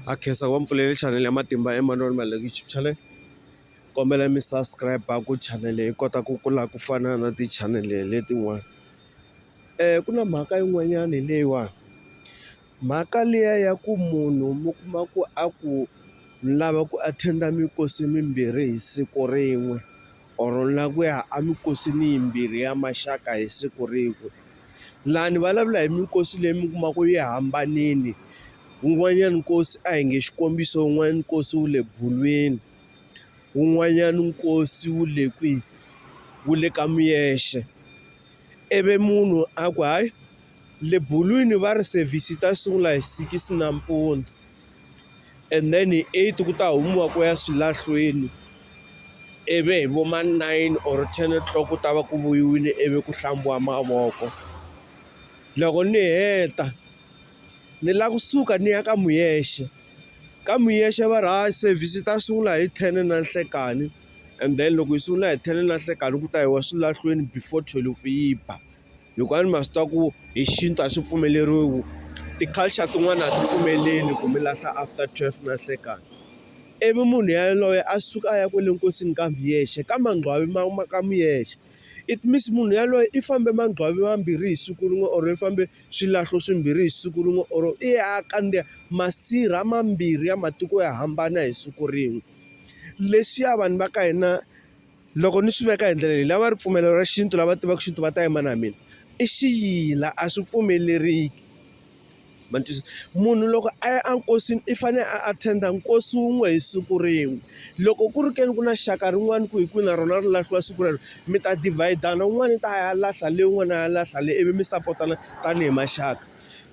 ha khensa ku va mi pfulele chanele ya matimba ya Emmanuel Maluleke YouTube channel kombela mi subscribe ku chanele yi kota ku kula ku fana na tichanele letin'wana um ku na mhaka yin'wanyana leyiwani mhaka liya ya ku munhu mi kuma ku a ku lava ku attend-a minkosi mimbirhi hi siku rin'we or la ku ya amikosini yimbirhi ya maxaka hi siku rin'we Laha ni vulavula hi minkosi leyi mi kuma ku yi hambanile. Wun'wanyana nkosi a hi nge xikombiso wun'wanyana nkosi wu le bulwini, wun'wanyana nkosi wu le kwihi? Wu le ka Muyexe. Ivi munhu a ku hayi le bulwini va ri service yi ta sungula hi six nampundzu. and then hi eight ku ta humiwa ku ya swilahlweni ivi hi vo ma nine or ten o'clock ku ta va ku vuyiwile ivi ku hlambiwa mavoko loko ni heta ni lava kusuka ni ya ka muyexe ka muyexe va ri ha service yi ta sungula hi ten na nhlekani and then loko yi sungula hi ten na nhlekani ku ta yiwa swilahlweni before thwelufu yi ba. hikuva a ni ma swi tiva ku hi xintu a swi pfumeleriwi ti-culture tin'wana a ti pfumeleli ku mi lahla after twelve na nhlekani ivi munhu yaloye a suka a ya kwale nkosini kambe hi yexe ka mangqwani ma ma ka mi yexe it means munhu yaloye i fambe mangqwani mambirhi hi siku rin'we or i fambe swilahlo swimbirhi hi siku rin'we or i ya a kandziya masirha mambirhi ya matiko yo hambana hi siku rin'we leswiya vanhu va ka hina. Loko ni swi veka hi ndlela leyi lava ripfumelo ra xintu lava tivaka xintu va ta yima na mina i xiyila a swi pfumeleriki ma twisisa munhu loko a ya enkosini i fanele a attend-a nkosi wun'we hi siku rin'we loko ku ri ke ni ku na xaka rin'wana ku hi kwihi na rona ri lahliwa siku rero mi ta dividana un'wana i ta ya lahla leyi un'wana a ya lahla leyi ivi mi sapotana tanihi maxaka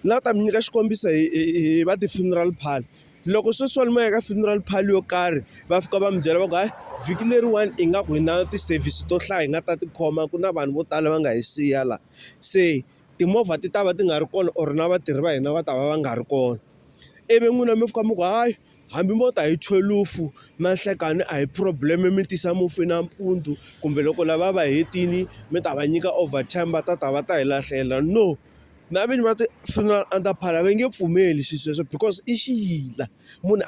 ni lava ku ta mi nyika xikombiso hi hi hi va ti-funeral parlour. loko sweswi va yimaka funeral parlour yo karhi va fika va mi byela va ku hayi vhiki leriwani i nga ku hi na ti-service to hlaya hi nga ta tikhoma ku na vanhu vo tala va nga hi siya la se timovha ti ta va ti nga ri kona or na vatirhi va hina va ta va va nga ri kona ivi n'wina mi fika mi ku hayi hambi mo ta hi thwelufu na nhlekani a hi problem mi tisa mufi nampundzu kumbe loko lava va hetile mi ta va nyika over time va ta ta va ta hi lahlela no. na vinyi va ti-funeral under parlour va nge pfumeli swilo sweswo because i xiyila munhu a.